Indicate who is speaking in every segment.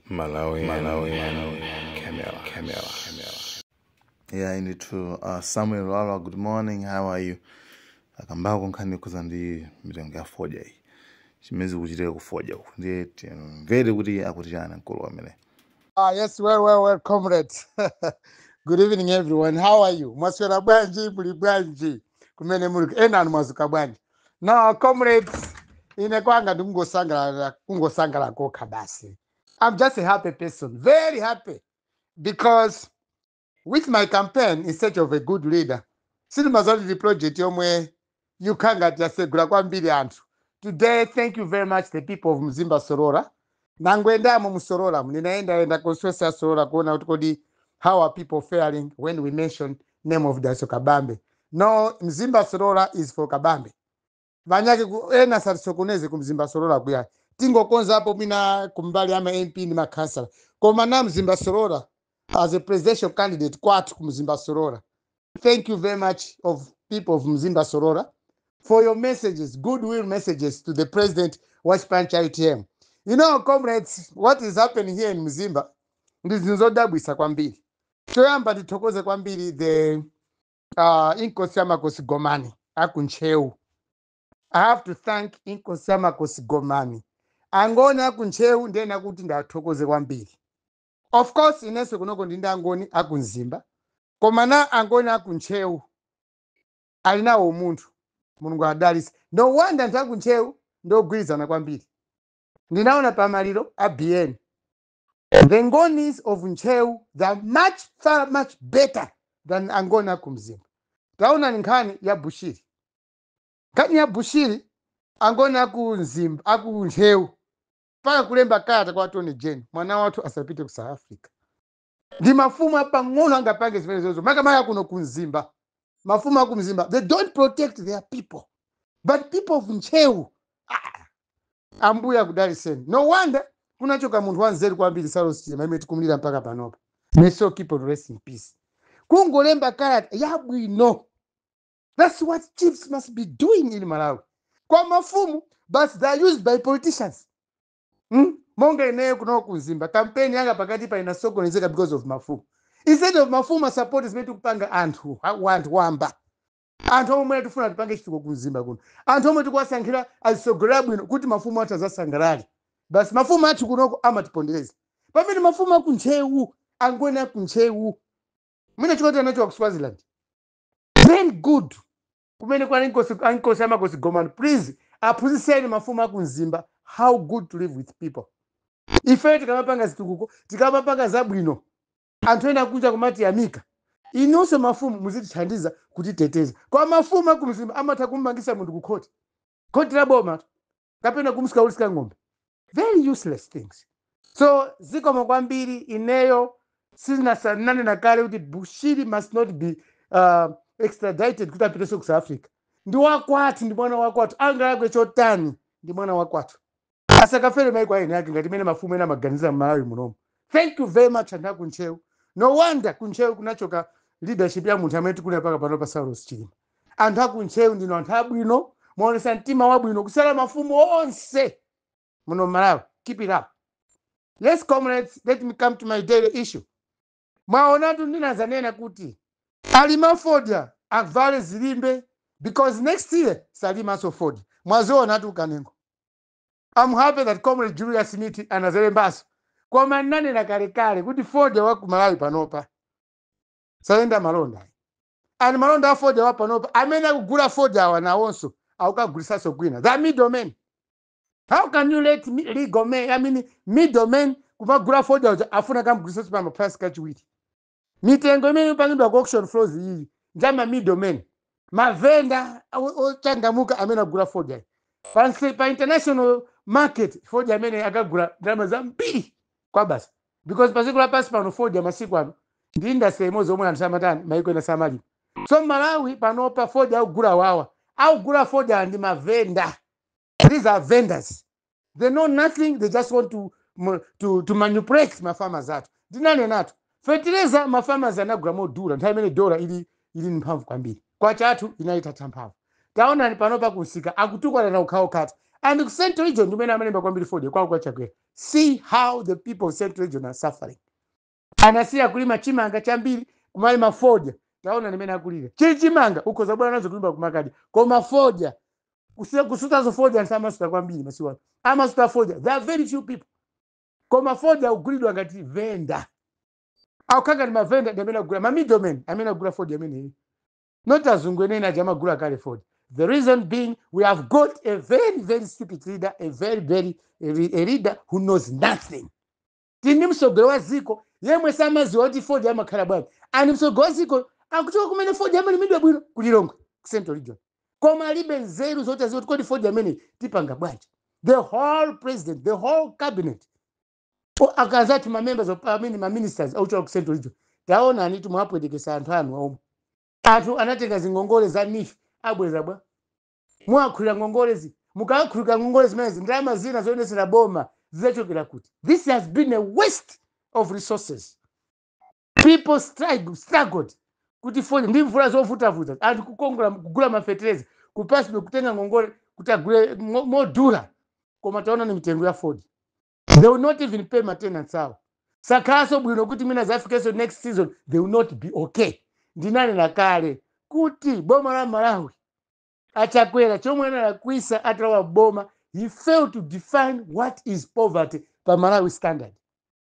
Speaker 1: Malawi, Malawi, Malawi, Camera, Camera, Camera. Yeah, I need to. Uh, Samuel Lala, good morning. How are you? akambako nkhani yokhuza ndi mitengo ya fodya iyi zimene zikuchitika kufodya uku ndiye timvere kuti akuti chani mkulu wamene Ah, yes,
Speaker 2: well, well, well, comrades. Good evening, everyone. How are you? Mwaswera bwanji, muli bwanji. Kumene muli, enanu mwazuka bwanji. now comrades ine kwanga ndikungosangalala kokha basi i'm just a happy person very happy because with my campaign in search of a good leader sindimaziwa zoti ndi project yomwe yokhala ngati yasegula kwambiri anthu today thank you very much the people of mzimba solola Ndangoyendamo mu Sololamu, ndinayendayenda constituency ya Solola kuona kuti kodi how are people faring when we mention name of Dalitso Kabambe. No, Mzimba Solola is for Kabambe. Panyake ena asatisokoneze ku Mzimba Solola kuya. Tingokonzapo mwina kumbali ama MP ndi makhansala. Koma na Mzimba Solola as a presidential candidate kwathu ku Mzimba Solola. thank you very much of people of mzimba solola for your messages goodwill messages to the president wa chipani cha utm you know comrades what is happening here in mzimba ndi zinthu zodabwisa kwambiri choyamba ndithokoze kwambiri the uh, inkosi ya makosi gomani akuntcheu i have to thank inkosi ya makosi gomani angoni akuntcheu ndena kuti ndiwathokoze kwambiri Of course inenso kunoko ndi ndi angoni aku Mzimba koma na angoni aku Ntcheu ali nawo umunthu Mulungu awadalitse. No wonder anthu aku Ntcheu ndi ogwirizana kwambiri. Ndinaona pa maliro a Biyeni. The Ngonis of Ntcheu they are much far much better than angoni aku Mzimba. Taonani nkhani ya Bushiri. Nkhani ya Bushiri angoni aku Mzimba aku Ntcheu mpaka kulemba kalata kwa attorney general mwana wathu asapite ku south africa ndi mafumu apang'ono angapange zimenezozo makamaka kuno ku mzimba mafumu aku mzimba they don't protect their people but people of ntcheu ah, ambuye akudaliseni no wonder kunachoka munthu wanzeru kwambiri saulos chilima amene tikumlira mpaka panopa may his soul keep on rest in peace kungolemba kalata yabwino That's what chiefs must be doing in Malawi. Kwa mafumu, but they are used by politicians. Hmm? Monga ineyo kuno ku Mzimba, kampeni yanga pakatipa inasokonezeka because of mafumu. Instead of mafumu asupport zimene tikupanga anthu, ha- wanthu wamba. Anthu omwe tifuna tipange chitukuko ku Mzimba kuno. Anthu omwe tikuwasankhira azisogolera bwino kuti mafumu athu azasangalale. Basi mafumu athu kunoko amatipondereza. Pamene mafumu aku Ntcheu, angoni aku Ntcheu, mwina chifukwa choti anachoka ku Swaziland. very good kumene kwa inkosi amakosi gomani please aphunzitseni mafumu aku mzimba how good to live with people ifeyo tikamapanga zitukuko tikamapanga zabwino anthu ena akunja kumatiyamika inunso mafumu muzitithandiza kutiteteza kwa mafumu aku mzimba amatha kummangisa munthu kukhoti khoti la boma kapena kumsika kugulitsa ng'ombe very useless things so zikomo kwambiri ineyo ndinanenanena kale kuti bushiri must not be uh, extradited kuti apitenso ku south africa ndi wakwathu ndi mwana wakwathu angalakwe chotani ndi mwana wakwathu asakafere maiko aeni ake ngati mmene mafumu ena amaganiza mmalawi munomo thank you very much anthu akuntcheu no wonder kuntcheu kunachoka leadership ya munthu amene tikulira paka pano pa saulos chilima anthu aku ntcheu ndinu anthu abwino mwaonesa mtima wabwino kusiyana mafumu onse muno mmalawi keep it up yes comrades let me come to my daily issue mwaonatu ndinazanena kuti alima fodya avale zilimbe because next year salimaso fodya mwazionatu kanengo I'm happy that comrade Julius Miti anazelembaso koma ndinanena kalekale kuti fodya wa ku Malawi panopa sayenda malonda And malonda a fodya panopa amene akugula fodya awa nawonso akukagulitsanso kwina. They are middlemen. How can you let mi- legal men, I mean middlemen kumagula fodya uja afuna akamugulitsanso pa maprice kachiwiri? Mitengo imene imapangidwa ku auction floors iyi ndi ama middlemen. Mavenda o- ochangamuka amene agula fodya iyi. Pa, nse- pa international market fodya ameneyu akagula ndalama zambiri kwabasi. because padziko lapansi pano fodya masiku ano ndi industry imodzi omwe anthu samatani maiko ena samalima so mmalawi panopa fodya akugula wawa akugula fodya ndi mavenda these are vendors they know nothing they just want to, mu- to, to manipulate mafarmers athu ndinanenatu fetereza mafarmers anagula modula nthawi imene dola ili ili ndi mphamvu kwambiri kwacha yathu inali itatha mphamvu taonani panopa kumsika akutukwanana okhaokhatu and ku central region ndi kumene amalima kwambiri fodya kwawo kwachakwera see how the people of central region are suffering anasiya kulima chimanga chambiri kumalima fodya taonani mmene akulira chili chimanga ukhoza kubwera nazo kunyumba kumakadya koma fodya kusutaso fodya anthu samasuta kwambiri masiku ano amasuta fodya there are very few people koma fodya akugulidwa ngati venda akukhala ngati mavenda ndi amene akugula mamiddlemen amene akugula fodya ameneyu not azungu eni eni aja amagula kale fodya the reason being we have got a very very stupid leader a very very a re- a leader who knows nothing tili ndi mtsogoleri wa dziko yemwe samadziwa kuti fodya amakhala bwanji and mtsogoleri wa dziko akuchoka kumene fodya amalimidwa bwino ku lilongwe ku central region koma alibe nzeru zoti aziwe kuti kodi fodya ameneyu tipanga bwanji the whole president the whole cabinet O, akazi athu ma members of parliament ma ministers ochokera ku central region taonanitu mwapwetekesa anthu anu omwe anthu anatenga zingongole za NEEF abweza bwa muwakhulira ngongolezi mukakhululuka ngongole zimenezi ndalama zina zoyendetsera boma zizachokera kuti this has been a waste of resources people struggle, struggled kuti fodya ndi mvula zovutavuta anthu kukongola kugula mafetereza kupatsidwa kutenga ngongole kuti agule mo- modula koma taonani mitengo ya fodya they will not even pay matenanti awo sakhalanso bwino kuti mwina zafikenso next season they will not be okay ndinkanena kale kuti boma la malawi achakwera chomwe analakwisa atalowa m'boma he failed to define what is poverty pa malawi standard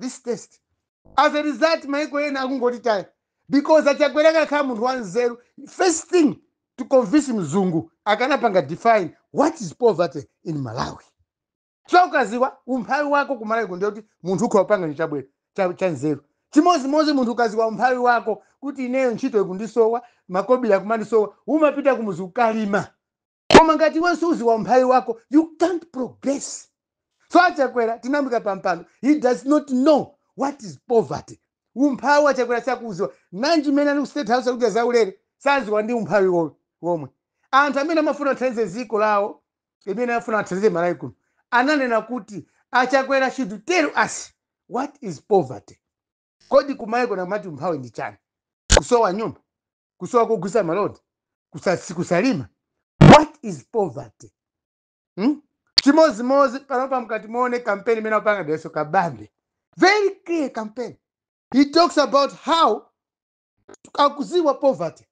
Speaker 2: this test as a result maiko ena akungoti tayeni because achakwera akakhala munthu wanzeru first thing to convince mzungu akanapanga define what is poverty in malawi so ukaziwa umphawi wako kumalawi kuno ndiye kuti munthu ukhoza kupanga chinthu chabwera cha- chanzeru chimodzimodzi munthu ukaziwa umphawi wako kuti ineyo ntchito ikundisowa makobiri akumandisowa umapita kumuzi ukalima koma ngati iwe suziwa umphawi wako you can't progress so achakwera tinamuika pampando he does not know what is poverty umphawi achakwera sakuuziwa nanji mmene ali ku state house akudya zaulere saziwa ndi umphawi wo- womwe anthu amene amafuna athandize ziko lawo imene amafuna athandize malawi kuno ananena kuti achakwera should tell us what is poverty kodi kumayiko enaku amati umphawi ndi chani kusowa nyumba kusowa kogulisa malonda kusasi- kusalima what is poverty hmm? chimozimozi panopa mkati muone kampeni imene apanga Dalitso kabambe very clear campaign he talks about how akuziwa poverty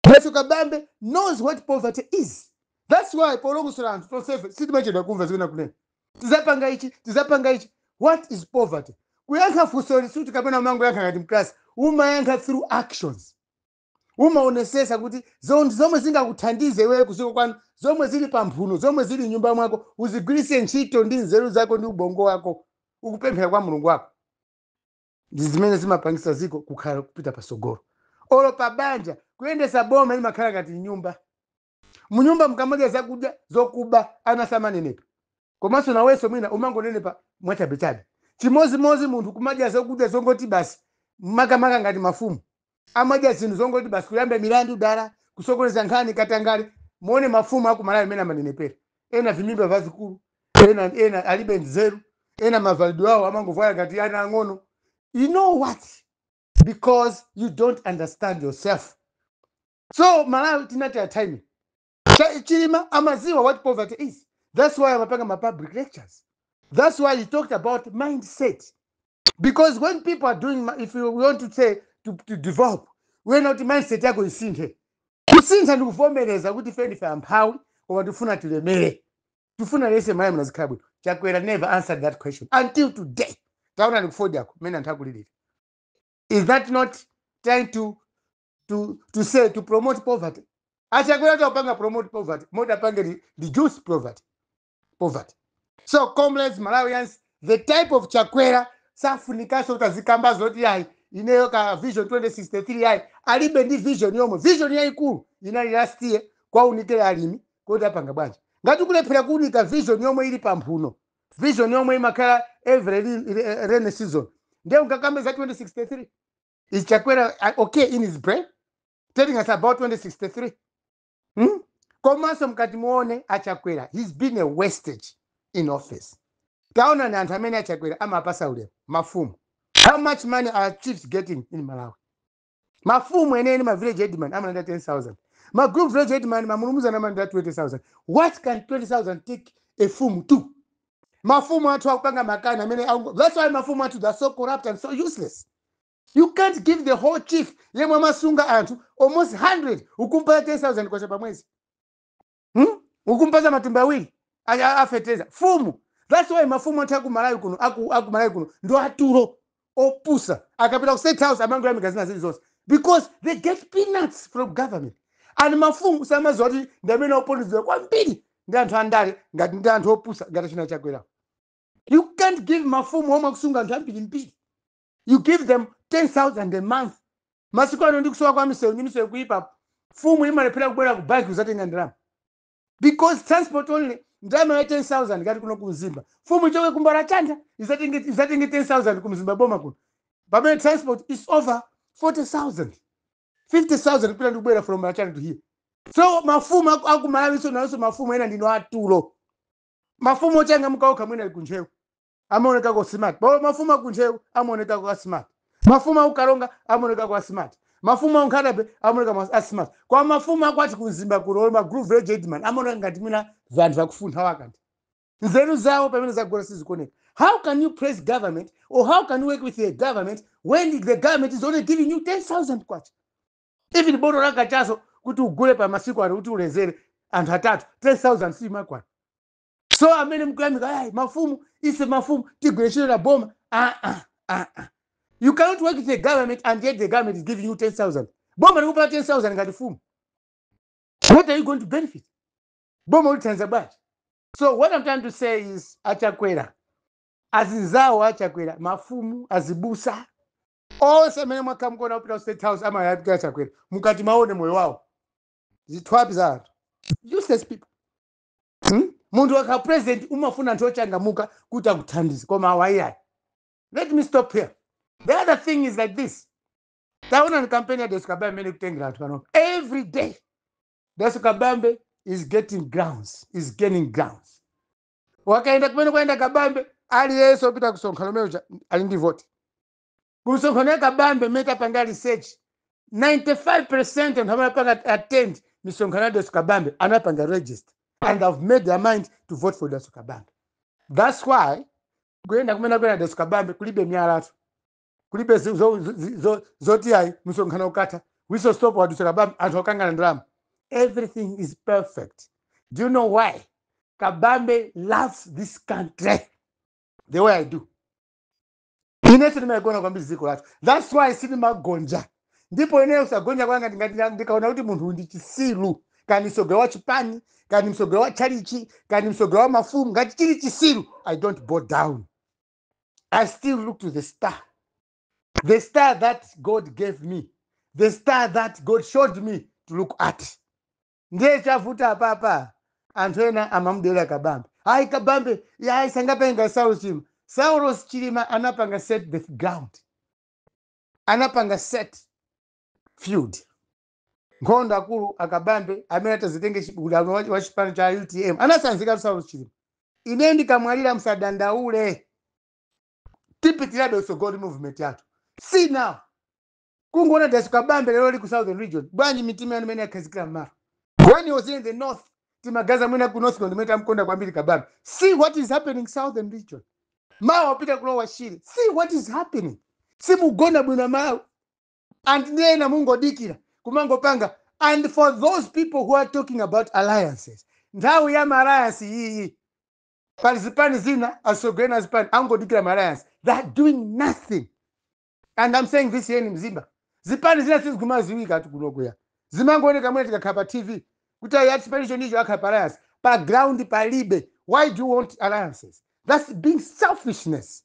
Speaker 2: Dalitso Kabambe knows what poverty is. That's why polongosolera anthu tonsefe sitimachedwa kumva zimene akunena. Tizapanga ichi, tizapanga ichi. What is poverty? Kuyankha funsoli sikuti kapena umangoyankha ngati mklasi, umayankha through actions. Umaonesesa kuti zo- zomwe zingakuthandize iweyo kuziko kwanu, zomwe zili pa mphuno, zomwe zili mnyumba mwako, uzigwiritse ntchito ndi nzeru zako ndi ubongo wako, ukupemphera kwa Mulungu wako. ndi zimene zimapangisa ziko kukhala kupita pasogolo olo pa banja kuyendesa boma limakhala ngati mnyumba munyumba mukamadya zakudya zokuba ana samanenepa komanso nawenso mwina umangonenepa mwachabechabe chimodzimodzi munthu kumadya zakudya zongoti basi makamaka ngati mafumu Amadya zinthu zongoti basi kuyamba milandu dala, kusokoneza nkhani, katangale. Muone mafumu a ku Malawi mmene amanenepera. Ena vimimba vazikulu, ena ena alibe nzeru, ena mavalidwe awo amangovala ngati ana ang'ono. You know what? Because you don't understand yourself. So Malawi tinataya time. Cha- chilima amaziwa what poverty is that's why amapanga ma public lectures that's why he talked about mindset because when people are doing ma- if you want to say to, to develop uyenera kuti mindset yako isinthe kusintha ndikuvomereza kuti ife ndife amphawi koma tifuna tilemere tifuna aliyense malawi muno azikhala bwino chakwera never answered that question until today taonani kufodyako mmene anthu akulirira is that not trying to to, to say to promote poverty achakweratu akupanga promote poverty moti apange re- reduce poverty so comrades malawians the type of chakwera safunikanso kuti azikamba zoti ayi ineyo ka vision 2063 ayi alibe ndi vision yomwe vision yayikulu inali last year kuwaunikira alimi kuti apanga bwanji ngati ukulephera kuunika vision yomwe ili pamphuno vision yomwe imakhala every re- re- rainy season ndiye ungakambe za 2063 Is Chakwera uh, okay in his brain? Telling us about 2063. Hmm? Komanso mkati muone achakwera he's been a wastage in office. Taonani anthu amene achakwera amapasa ulemu mafumu. How much money are chiefs getting in Malawi? Mafumu eneni ma village headman amalandira 10,000. Ma group village headman mamulumuzana amalandira 20,000. What can 20,000 take a fumu to? Mafumu athu akupanga makani amene aku- that's why mafumu athu they are so corrupt and so useless. You can't give the whole chief yemwe amasunga anthu almost 100 ukumpasa 10000 kwacha pa mwezi hmm? ukumpasa matumba awiri a- a- afeteleza fumu that's why mafumu athu aku malawi kuno aku, aku malawi kuno ndi atulo opusa akapita ku state house amangoyamika zina zili zonse because they get peanuts from government and mafumu samaziwa kuti ndi amene akuponderezedwa kwambiri ndi anthu andale ngati ndi anthu opusa ngati achina chakwerawo you can't give mafumu omwe akusunga anthu ambirimbiri you give them 10000 a month masiku ano ndi kusowa kwa misewu ndi misewu kuyipa fumu imalephera kubwera ku banki kuzatenga ndalama because transport only ndalama ya 10000 ngati kuno ku mzimba fumu ichoke ku mbalachanda izatenge izatenge 10000 ku mzimba boma kuno pamene transport is over 40000 50000 kupita ndi kubwera from mbalachanda to here so mafumu aku- aku malawi so nawonso mafumu ena ndinu atulo mafumu ochangamuka okha mwina ali kuntcheu amaonekako smart bola mafumu akuntcheu amaonekako asmart mafumu akukaronga amaonekako asmart mafumu akunkhata bay amaoneka mas- asmart koma mafumu akwathu kumzimba kuno olo ma group village headman amaoneka ngati mwina vanthu vakufuntha waka kuti nzeru zawo pamene zagona sizikuoneka how can you praise government or how can you work with a government when the government is only giving you 10000 kwacha even botolo la kachasu kuti ugule pa masiku ano kuti ulezere anthu atatu 10000 siimakwana so amene mukuyamika ayi mafumu ife mafumu tigwire ntchito ndi boma ah, ah, ah, ah. you cannot work with the government and yet the government is giving you 10000 boma likupatsa 10000 ngati fumu what are you going to benefit boma ulithandiza bwanji so what i'm trying to say is achakwera azinzawo a achakwera mafumu azibusa onse amene mwakhala mukuona kupita ku state house akuyamikira Chakwera mukati muone moyo wawo zithyapi za anthu useless people hmm? munthu wakhala president umafuna anthu ochangamuka kuti akuthandize koma awa iyayi let me stop here the other thing is like this taonani kampeni ya Dalitso Kabambe imene ikutengera anthu panopa every day Dalitso Kabambe is getting grounds is gaining grounds akayenda kumene akuyenda kabambe aliyense opita kumsonkhano mmene muja ali ndi voti kumsonkhano ya kabambe mmene tapanga research 95% anthu amene apanga attend misonkhano ya Dalitso kabambe anapanga register and have made their mind to vote for Dalitso kabambe thats why kuyenda kumene akuyenda Dalitso kabambe kulibe myalatu kulibe zo- zo- zo- zo- zoti ayi msonkhano ukatha wiso stop wadutsa kabambe anthu akukangana ndalama everything is perfect do you know why kabambe loves this country the way i do ine ndimalikonda kwambiri dziko lathu thats why sindimagonja ndipo ineyo kusagonja kwanga ndingati nda- ndikaona kuti munthu ndi chitsiru kaya ndi mtsogoleri wa chipani kaya ndi mtsogoleri wa chalichi kaya ndi mtsogoleri wa mafumu ngati chili chitsiru i don't bow down I still look to the star. The star that God gave me. The star that God showed me to look at. Ndiye chavuta apapa. Anthu ena amamudera kabambe. Ayi kabambe, yayi sangapange Saulos Chilima. Saulos Chilima anapanga set the ground. Anapanga set field. nkhondo akulu a Kabambe amene atazitenge chi- udindo wa wa chipani cha utm anatsanzika saulos chilima ine ndikamwalira msadandaule tipitirabe kutsogolo movement yathu see now kungoona Dalitso kabambe lero ali ku southern region bwanji mitima yanu imene yakhazikira mmalo when he was in the north timaganiza mwina ku north ndimene tamkonda kwambiri kabambe see what is happening southern region mawa wapita ku Lower Shire see what is happening simugona bwino mawa and ndi ena mungodikira kumangopanga and for those people who are talking about alliances nthawi ya maalliance iyayi pali zipani zina atsogoleri a zipani angodikira maalliance they're doing nothing and i'm saying this here in Mzimba zipani zina sizikumaziwika ati kunoku ya zimangooneka mwina zikakhala pa tv kuti ayi ati chipani chotichi akhala pa alliance pa ground palibe why do you want alliances that's being selfishness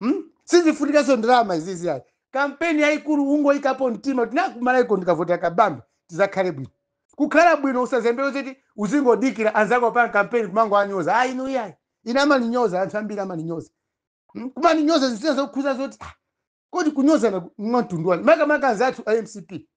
Speaker 2: hmm? sizifunikanso ndalama izizi ayi kampeni yayikulu ungoyikapo mtima kuti nakumana iko ndikavotera kabambe tizakhale bwino kukhala bwino usazembere zoti uzingodikira anzako apanga kampeni kumangowanyoza ayi inu iyayi ine amaninyoza anthu ambiri amaninyoza Hmm? kumaninyoza zinthu zina zokhuza zoti ah, kodi kunyozana mwa mtundu wanji makamaka anzathu a mcp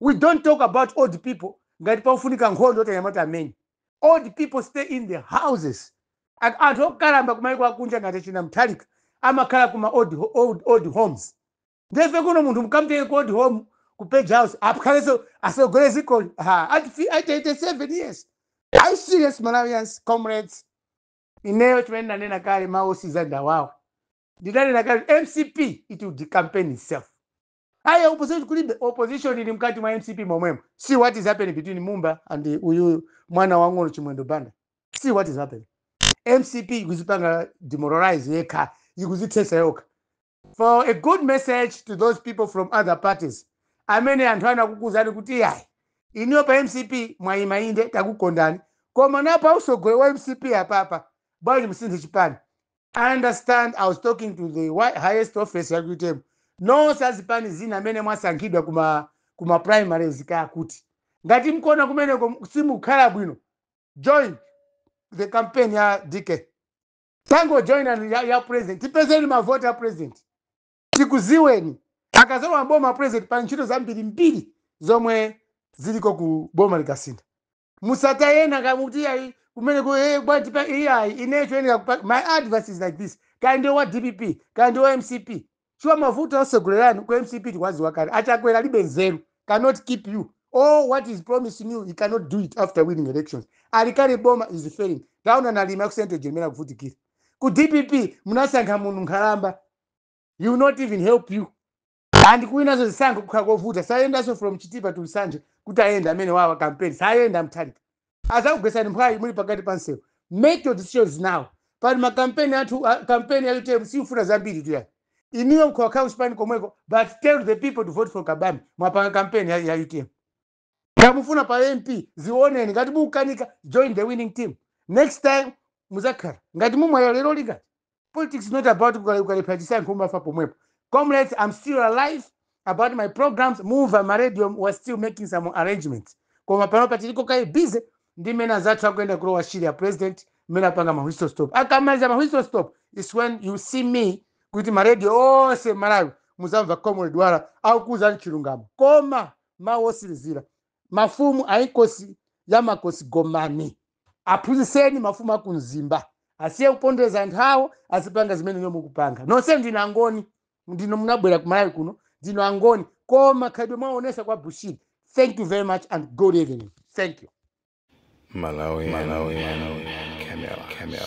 Speaker 2: we don't talk about old people ngati pakufunika nkhondo yoti anyamata amenye old people stay in the houses and anthu okalamba kumayiko akunja ngati achina mutharika amakhala kuma old, ho- old, old homes ndefe kuno munthu mukamtenge ku old home ku page house akhalenso atsogole dzikoli ha at fi- at 87 years are you serious malawians comrades ineyo chimene ndanena kale mawu otsiriza ndawawo ndinanena kale mcp it will decampaign itself ayi opposition kulibe opposition ili mkati mwa mcp momwemo see what is happening between mumba and uyuyu mwana wang'ono chimwendo banda see what is happening mcp ikuzipanga demoralize yekha ikuzithetsa yokha for a good message to those people from other parties amene anthu akukuuzani kuti yayi inuyo pa mcp mwayima inde takukondani koma napa utsogoleri wa mcp apapa bwanji musinthe chipani I understand I was talking to the wi- highest office ya UTM. Nonse azipani zina amene mwasankhidwa kuma kuma primaries kaya kuti. Ngati mukuona kumeneko simukhala bwino. Join the campaign ya DK. Tangojoinani ya, ya president. Tipezeni mavoti a president. Tikuziweni. Akazalowa boma president pa ntchito zambirimbiri zomwe ziliko ku boma likasintha. musataye ena kaya mukuti iyayi kumene ku eh, bwana tipa iyayi ineyo choyenera kupa- my advice is like this kaya ndiwe wa dpp kaya ndiwe wa mcp chifukwa mavuto atsogoleri anu ku mcp tikuwaziwa kale achakwera alibe nzeru cannot keep you all what he's promising you he cannot do it after winning elections ali kale m'boma he's failing taona nalima yakusente jeremera kuvutikira ku dpp munasankha munthu nkhalamba he will not even help you and kuwinanso zisankho kukhala kovuta sayendanso from chitipa to nsanje kuti ayende amene awawa campaign sayenda mutharika azakugwesani mphwayi muli pakati pa msewu make your decisions now pali makampeni athu a- kampeni ya utm siyikufuna zambiritu ayi inuyo mukhoza kukhala kuchipani komweko but tell the people to vote for kabambe mwapanga kampeni ya, ya utm kaya mufuna pa mp zioneni ngati mukukanika join the winning team next time muzakhala ngati mumwalira lero lingati politics is not about ukale- ukalephera chisankho umafa pomwepo comrades i'm still alive about my programs mumva ma radio was still making some arrangements koma panopa tiliko kaye busy ndi mmene anzathu akuyenda ku lower shire ya president mmene apanga ma whistle stop akamaliza ma whistle stop is when you see me kuti ma radio onse malawi muzamva comrade wala akukuuzani chilungamo koma mawu otsirizira mafumu a inkosi ya makosi gomani aphunzitseni mafumu a ku mzimba asiye kupondereza anthu awo azipanga zimene inuyo mukupanga nonse ndinu angoni ndipo munabwera ku malawi kuno ndinu angoni koma khalidwe mwaonesa kwa bushiri thank you very much and good evening thank you
Speaker 1: Malawi,
Speaker 2: Camera.